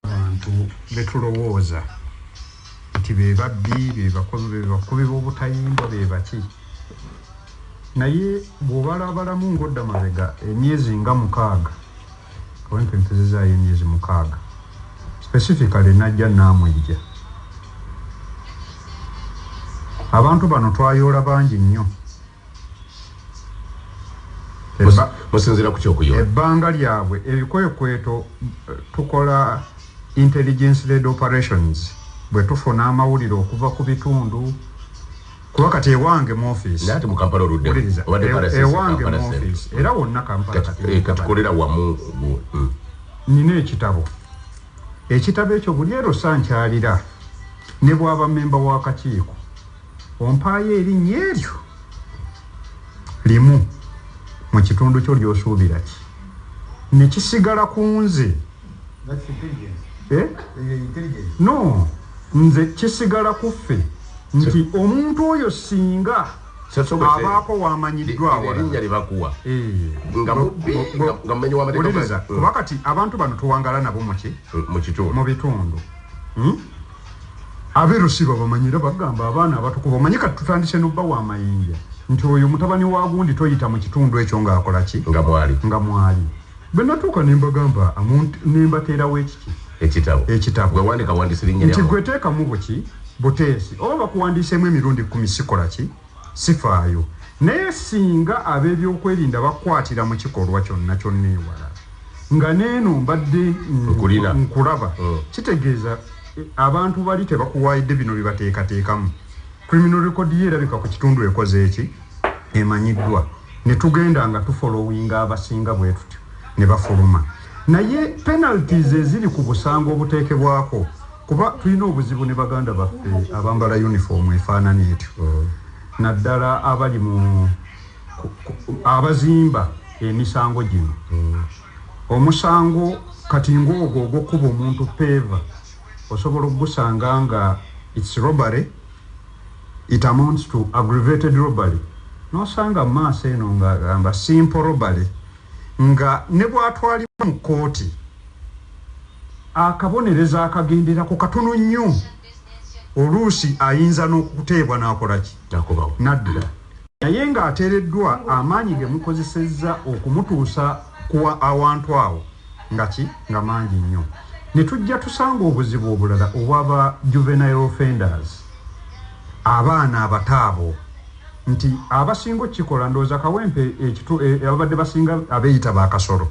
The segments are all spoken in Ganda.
Abantu betulowooza nti be babbi, be bakubi b'obutayimbwa, be baki. Naye bw'obalabalamu ng'odda mabega emyezi nga mukaaga, abantu empezezaayo emyezi mukaaga, specifically najja naamwejja. Abantu bano twayoola bangi nnyo. musinzira ku kyokuyola ebbanga lyabwe ebikwekweto eh, tukola intelligence led operations bwe tufuna amawulire okuva ku bitundu kuba kati ewange mu office naye ati mu kampala oludde obadde pala sisi ewange mu office era wonna kampala kati eh, kolera wamu mm. nina ekitabo ekitabo ekyo buli ero sankyalira ne bwaba memba w'akakiiko Ompaayo erinnya eryo limu mu kitundu kyo ly'osuubira ki ne kisigala ku nze eh? no nze kisigala ku ffe nti omuntu oyo singa abaako wamanyiddwawalinnyalibakuwa eh. ngamumanyiwuliriza kuba kati abantu bano tuwangala nabo muki mu bitundu hmm? Abe rusi babamanyi era bagamba abaana abatukuvu omanyi kati tutandise nobawa amayinja nti oyo mutabani wa gundi toyita mukitundu ekyo nga akolaki nga mwali nga mwali bwenatuuka nembagamba nembateerawo ekiki ekitabo ekitabo gwewandika wandisirinya nti gwetekamu buki buteesi oba bakuwandiisemu emirundi kumi sikolaki Sifaayo. Naye singa ab'ebyokwerinda bakukwatira mu kikolwa kyonna kyonna ewala, nga n'eno mbadde nkulaba, kitegeeza abantu bali tebakuwaayidde bino bye bateekateekamu. Criminal record yo erabika ku kitundu ekoze ki? Emanyiddwa. Ne tugenda nga tufolowinga abasinga bwe tutyo, ne bafuluma. naye penalties eziri ku busango obuteekebwako kuba tulina obuzibu ne baganda baffe abambala uniform efaanana etyo mm. naddala abali mu abazimba emisango gino mm. omusango kati ngaogwo ogwokuba omuntu peeva osobola okugusanga nga its robbery it amounts to aggravated robbery nosanga maaso eno nga gamba simple robbery nga ne bw'atwalibwa mu kkooti akabonerezo akagenderako katono nnyo oluusi ayinza n'okuteebwa n'akola ki n'addira naye ng'ateereddwa amaanyi ge mukozesezza okumutuusa ku awantu awo nga ki nga mangi nnyo ne tujja tusanga obuzibu obulala obwaba juvenile offenders abaana abataabo nti abasinga okikola ndowoza kawempe ekitu e, ababadde basinga abeyita ba kasolo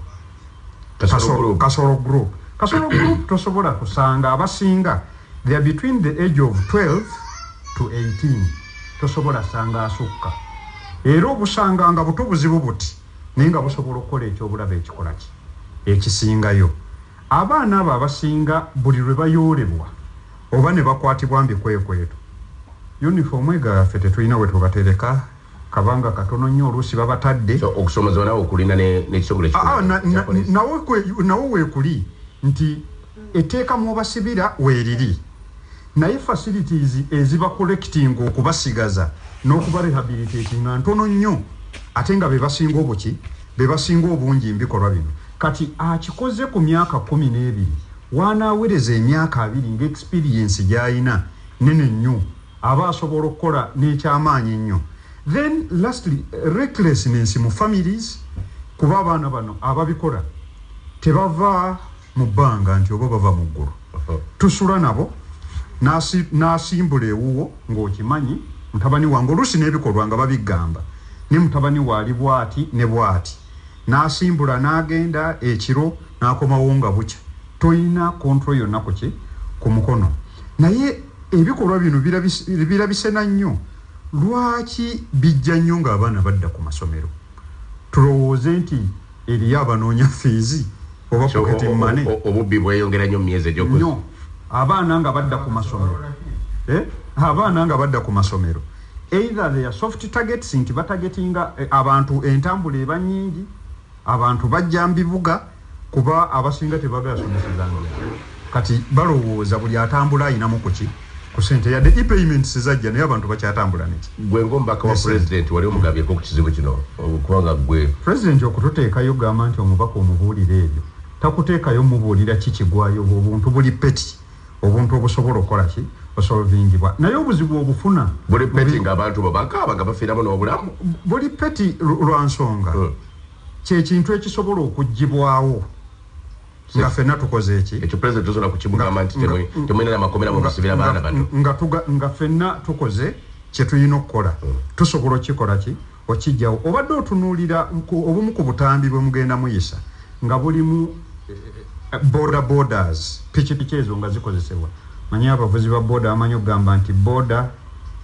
kasolo group kasolo group tosobola kusanga abasinga they are between the age of 12 to 18 tosobola sanga asukka era obusanga nga buto buzibu buti naye nga busobola okukola ekyobulaba ekikola ki ekisingayo abaana abo abasinga buli lwe bayoolebwa Oba nebakwatibwa mbikwekweto. Uniform ega ffe tetulina wetubatereka kabanga katono nnyo oluusi babatadde. So okusomozebwa nawe okulina ne nekitongole ki Aa na, na, nawo kwe, nawo wekuli nti etteeka mwobasibira weriri naye facilities eziba collecting okubasigaza nokuba rehabilitatinga ntono nnyo ate nga bebasinga obuki bebasinga obungi mbikolwa bino. Kati akikoze ku myaka kkumi n'ebiri, w'anaawereza emyaka abiri nga experience gy'alina nnene nnyo, aba asobola okukola n'ekyamaanyi ennyo. Then lastly, recklessness mu families kuba abaana bano ababikola tebava mu bbanga nti oba bava mu ggulu. Tusula nabo n'asi, n'asimbula ewuwo ng'okimanyi mutabani wange oluusi n'ebikolwa nga babiggamba ne mutabani we ali bw'ati ne bw'ati. N'asimbula n'agenda ekiro n'akomawo nga bukya. Tolina control yonna ku ki? Ku mukono. Naye ebikolwa bino birabise, birabise na nnyo. Lwaki bijja nnyo ng'abaana badda ku masomero? Tulowooze nti eriyo abanoonya ffiizi oba So, o- pocket o- o- money? o- obubbi bweyongera nnyo mu myezi egy'oku Nnyo. Abaana nga badda ku masomero. Eh? Abaana nga badda ku masomero. Either they are soft targets nti batagetinga eh, abantu entambula eba nyingi abantu bajja mbibuga kuba abasinga tebagala somesezanga kati balowooza buli atambula ayinamu kuki ku sente yadde epayments zajja naye abantu bakyatambula neki gwe ngaomubaka wa pulezidenti wali omugabyeko ku kizibu kino okubanga gwe pulezidenti okututeekayo gamba nti omubaka omubuulira ebyo takuteekayo mubuulira kikigwayo obuntu buli peti obuntu obusobola okola ki osolvingibwa naye obuzibu obufuna buli peti nga abantu bo bakaaba nga bafiiramu n'obulamu buli peti lwa nsonga hmm. kyekintu ekisobola okuggibwawo nga fena tukoze eki ekyo president tosobola kukimugamba nti temulina na makomera mubasibira baana bano nga fena tukoze kyetulina okukola hmm. tusobola okukikola ki Okijjawo. Obadde otunuulira obumu ku butambi bwe mugenda muyisa nga bulimu boda bodas, pikipiki ezo nga zikozesebwa. Manyi abavuzi ba boda bamanyi okugamba nti boda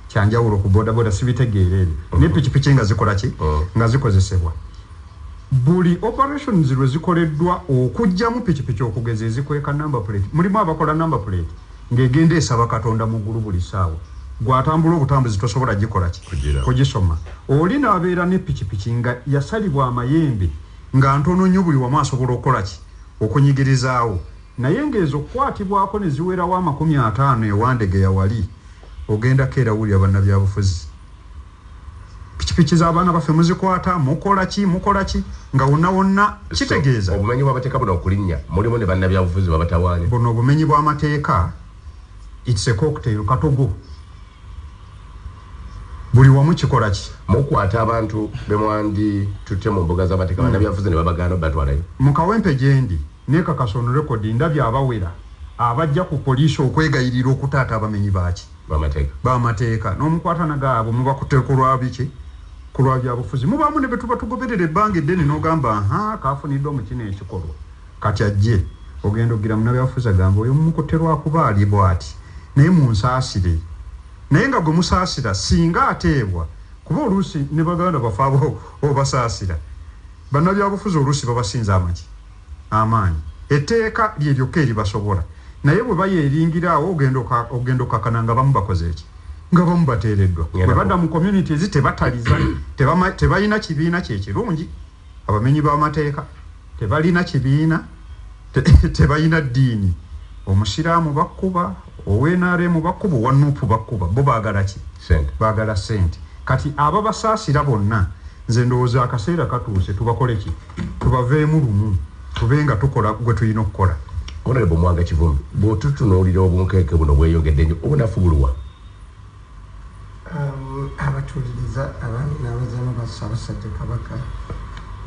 kyanjawulo ku boda boda, sibitegeera ebyo. Mm-hmm. Naye pikipiki nga zikola ki? Oh. Nga zikozesebwa. Buli operations lwe zikoleddwa okujjamu pikipiki okugeza ezikweka number plate. Mulimu abakola number plate. Nga egenda esaba katonda mugulu buli saawa gwe atambula obutambuzi tosobola gikola ki kugisoma oli nabeera ne pikipiki nga yasalibwa amayembe nga ntono nnyo buli wamu asobola okukola ki okunyigirizaawo naye nga ezo okukwatibwako ne ziwerawo amakumi ataano ewandegeya wali ogenda keera wulira bannabyabufuzi pikipiki zabaana baffe muzikwata mukolaki mukolaki nga wonna wonna kitegeeza obumenyi bwamateeka buno okulinnya mulimu ne bannabyabufuzi babatawaanya buno obumenyi bwamateeka its a cocktail katogo buli wamu kikolaki mukwata abantu bemwandi tutte mu mbuga z'amateeka bannabyabufuzi ne babagaana obatwalayo mu kawempe gyendi nekakasa on rekodi ndabye abawera abajja ku poliisi okwegayirira okutaata abamenyi baaki bamateeka n'omukwatana gaabwe mubakute kulwabiki kulwa byabufuzi mubaamu ne betuba tugoberera ebbanga eddene n'ogamba ha kaafuniddwa mu kino ekikolwa kati ajje ogenda ogira munabyabufuzi agamba oyo mumukutte lwakuba ali bwati naye munsaasire naye nga gwe musaasira singa ateebwa kuba oluusi ne baganda bafaaba obasaasira bannabyabufuzi oluusi babasinza amaki amaanyi. Etteeka lye lyokka eribasobola. Naye bwe bayeeringira awo, ogenda, ogenda okakana nga abamu bakoze ki? Nga abamu bateereddwa. Bwe badda mu communities, tebataliza, tebama, tebalina kibiina kye kirungi. Abamenyi b'amateeka tebalina kibiina, te, tebalina ddiini. Omusiraamu bakkuba, ownrm bakkuba, owa nupu bakkuba. Bo baagala ki? Sente. Bagala sente. Kati ababasasira bonna nze ndowooza akaseera katuuse tubakoleki? Tubaveemu lumu tube nga tukola gwe tulina okukola. Honorable Mwanga Kivumbi, bw'otutunuulira obunkenke buno bweyongedde nnyo, obunafu buluwa? Um, abatuuliriza abaami n'abazaana ba Ssaabasajja Kabaka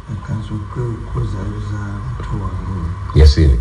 bakanze okwezaayoza muto wange. Yasiini.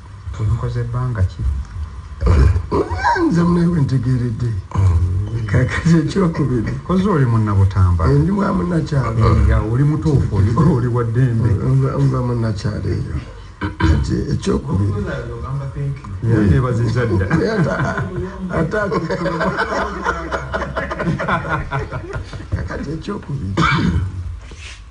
Omukoze bbanga ki? Nze mune wentegeredde kakati ekyokubiri koze oli munnabutamba eh, ndi mwa munnakyalo eh, oli mutuufu oli wa ddembe nva munnakyalo eyo kati ekyokubiri yebaziza dda ate kakati ekyokubiri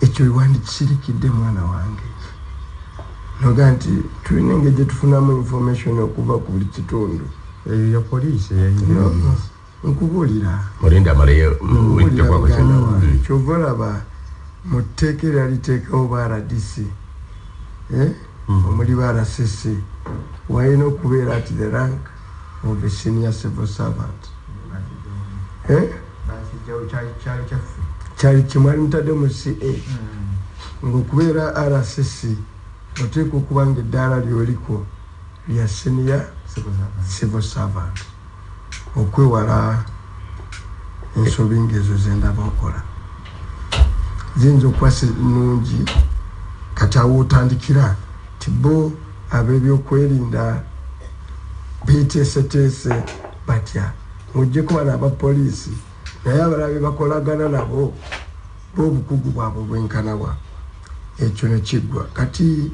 ekyo wewandikisirikidde mwana wange noga nti tulina engeri gyetufunamu information okuva ku buli kitundu eyo ya poliisi nkubuulira mm. kyova olaba mu tteeka era liteekawo ba rdc eh? mm. omuli ba rsisi walina okubeera ti the rank of a senior civil servant eh? kyali kimwali mutadde mu ca hmm. ngaokubeera rcc oteeka okuba nga eddaala lyoliko lya senior civil servant okwewala ensobi ngaezo zendaba okola ziyinza okuba sinungi kati awo otandikira tibo abebyokwerinda beteeseteese batya ng'ogyeko bano aba poliisi naye abalala bebakolagana nabo b'obukugu bwabwe bwenkanawa ekyo nekiggwa kati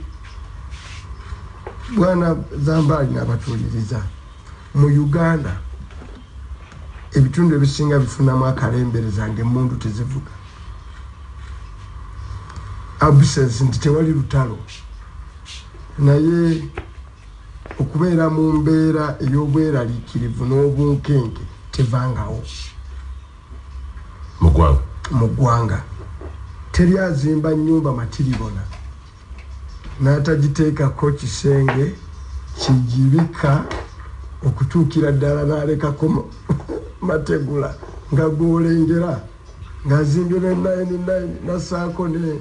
bwana zambaali nabatuuliriza mu uganda ebitundu ebisinga bifunamu akalembereza nga emundu tezivuga absence nti tewali lutalo naye okubeera mu mbeera ey'obweraliikirivu n'obunkenke tevangawo mu ggwanga teri azimba nnyumba matiribona n'atagiteekako kisenge kigibika okutuukira ddala n'alekako mategula nga gwolengera ng'azimbye ne 99 nasaako ne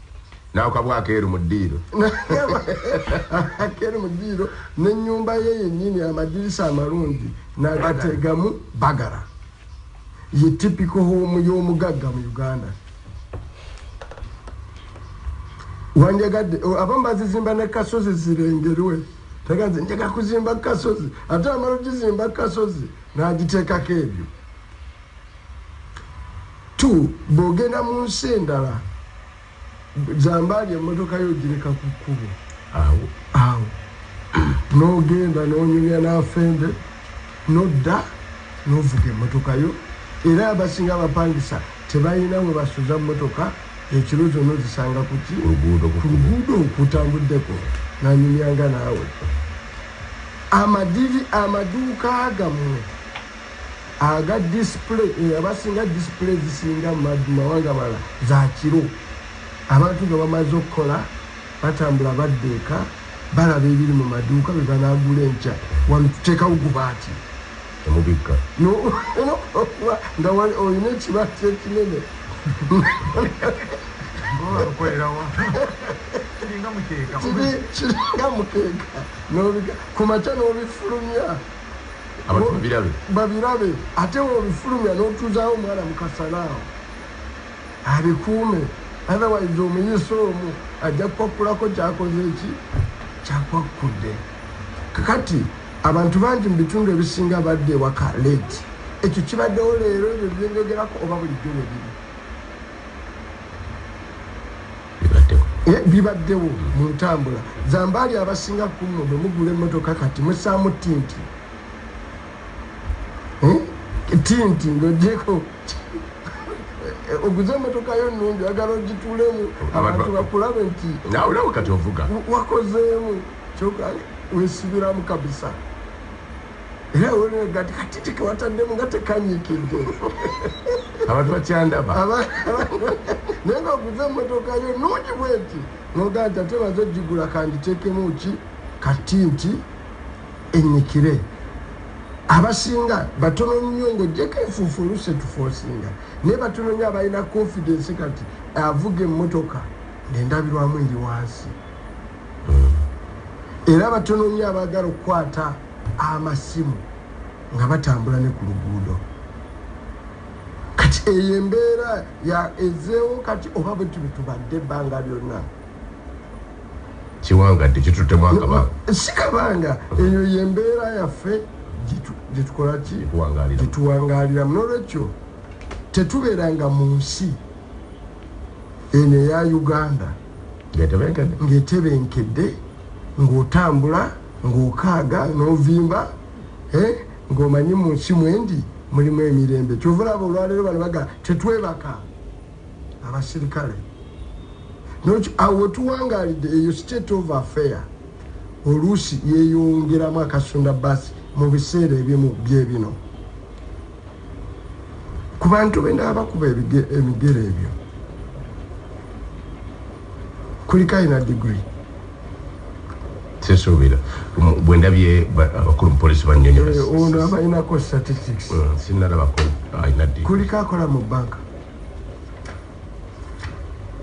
Naawe kabwa akeeru mu ddiiro. Akeeru mu ddiiro n'ennyumba ye yennyini amadirisa amalungi nagategamu bagala. Ye tipiko hoomu y'omugagga mu Uganda. Wanjagadde oh, abamu bazizimba ne kasozi zirengerwe teganze njega kuzimba kasozi ate amala ogizimba kasozi n'agiteekako ebyo. tu bwogenda mu nsi endala zambaali emmotoka yo ogireka ku kkubo awo awo n'ogenda n'onyumya n'afembe nodda n'ovuga emmotoka yo era abasinga abapangisa tebalina we basuza mmotoka ekiro zonna ozisanga kuki ku luguudo okutambuddeko nanyumyanga naawe amadivi amaduuka gammwe aga display eh, abasinga display ezisinga mu mawanga amalala za kiro abantu nga bamaze okukola batambula badda eka balaba ebiri mu maduuka be banagula enkya wano tuteekawo gubaati temubikka nga olina ekibaati ekinene kiringa mukeeka ku makya n'obifulumya Abantu babirabe. Babirabe ate wobifulumya notuzawo omwana mukasana awo abikuume otherwise omuyisa omu ajja kukwakulako kyakoze eki kyakwakudde kakati abantu bangi mu bitundu ebisinga badde ewaka late ekyo kibaddewo leero ebyo byenjogerako oba bulijjo webiri bibaddewo mu ntambula zambaali abasinga kumwe bwe mugula emmotoka kati musaamu tinti hmm? tinti ngaogyeko oguze emmotoka yo nungi agala ogitulemu abantu bakulabe nti nauleo kati ovuga wakozeemu kyoka wesibiramu kabisa era weweegati kati tekewataddemu nga tekanyikidde abantu bakyandaba naye nga oguze emotoka yo nungi bwenti nogaa nti ate baze ogigula kanditekemu ki kati nti enyikire abasinga batono nnyo ngaojjeko enfuufu oluse tufoosinga naye batono nnyo abalina confidence kati avuga emmotoka ngaendabirwamu eri wansi era batono nnyo abaagala okukwata amasimu nga batambula ne ku luguudo kati eyo embeera ezeewo kati oba bwe tubi tubadde ebbanga lyonna kiwanga nti kituttemu akabanga si kabanga eyo ye mbeera yaffe gyetukola ki gyetuwangaaliramu nolwekyo tetubeeranga mu nsi eno eya uganda ngetebenkedde ng'otambula ng'okaaga n'ovimba eh, ng'omanyi mu nsi mwendi mulimu emirembe kyova olaba olwaleero bano baga tetwebaka abasirikale awo wetuwangalidde eyo state of affair oluusi yeyongeramu akasunda basi mu biseera ebimu byebino ku bantu be n'abakuba ebigere ebyo kuliko alina digiri sesuubira bwe ndabye abakulu mupolisi banyonyoaono eh, abalinako statistics mm, sinalabako alina digiri kuliko akola mu banka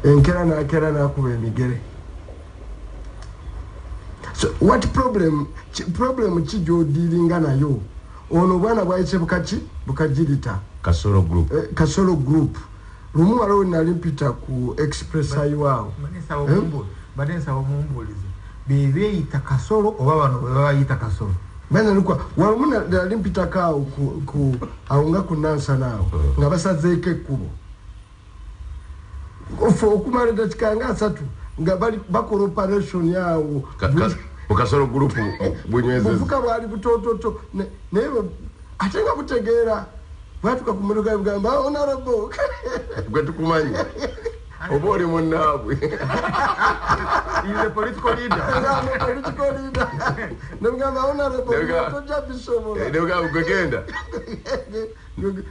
enkera nakera nakuba emigere so what problem problem ki gyodiringa nayo Ono obwana bwayise bukaki bukajirita kasolo group eh, kasolo group lumu waliwo nali mpita ku express highway awo bade eh? nsaba omumbuulize bebeeyita kasolo oba bano bebayita kasolo banalukwa walumu nali mpitako awo awo nga ku nansana awo nga basazeeko ekkubo ffe okumala edakika nga asatu nga bakola operation awo mukasolo gulupu bunywezebuvuka eh, bwali butototo naye ate nga butegeera bwatuka ku motoka yebugamba ah, onarabo gwe tukumanyi oba oli munaabwe nebugamba onarabo tojja bisobola eh, nebugamba gwegenda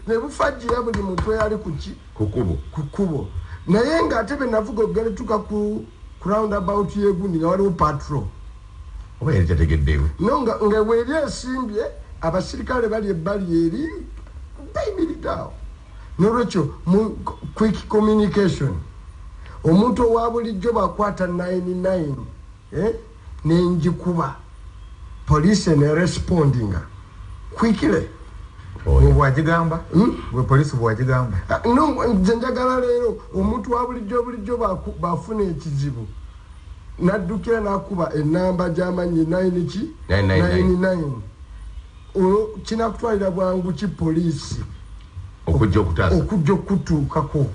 nebufajjira buli muntu eyali kuki kukubo kukubo naye nga ate benavuga okugalituka ku round about yegundi nga waliwo patro oba yali tategeddeyo no nga nga weri esimbye abasirikale bali ebbali eri bayimiridaawo nolwekyo mu quick communication omuntu owa bulijjo bakwata 99 eh nenjikuba police ne respondinga quickly bwagigamba hmm? gwe polisi bwagigamba ah, nze njagala leero omuntu wa bulijjo bulijjo bafuna ekizibu naddukira nakuba enamba gyamanyi 9 ki 99 olwo kinakutwalira bwangu ki poliisi okujja okutuukako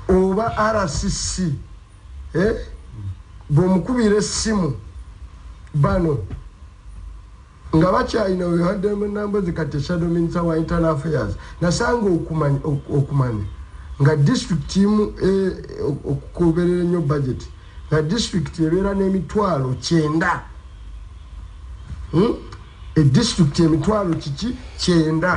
oba rcc eh? bwomukubira essimu bano nga bakyalina wehademunambo zikati shadow minister wa internal affairs nasanga okumanya okumanya nga district imu e, okukoberera ennyo budget nga district ebeera n'emitwalo kyenda hmm? e district emitwalo kiki kyenda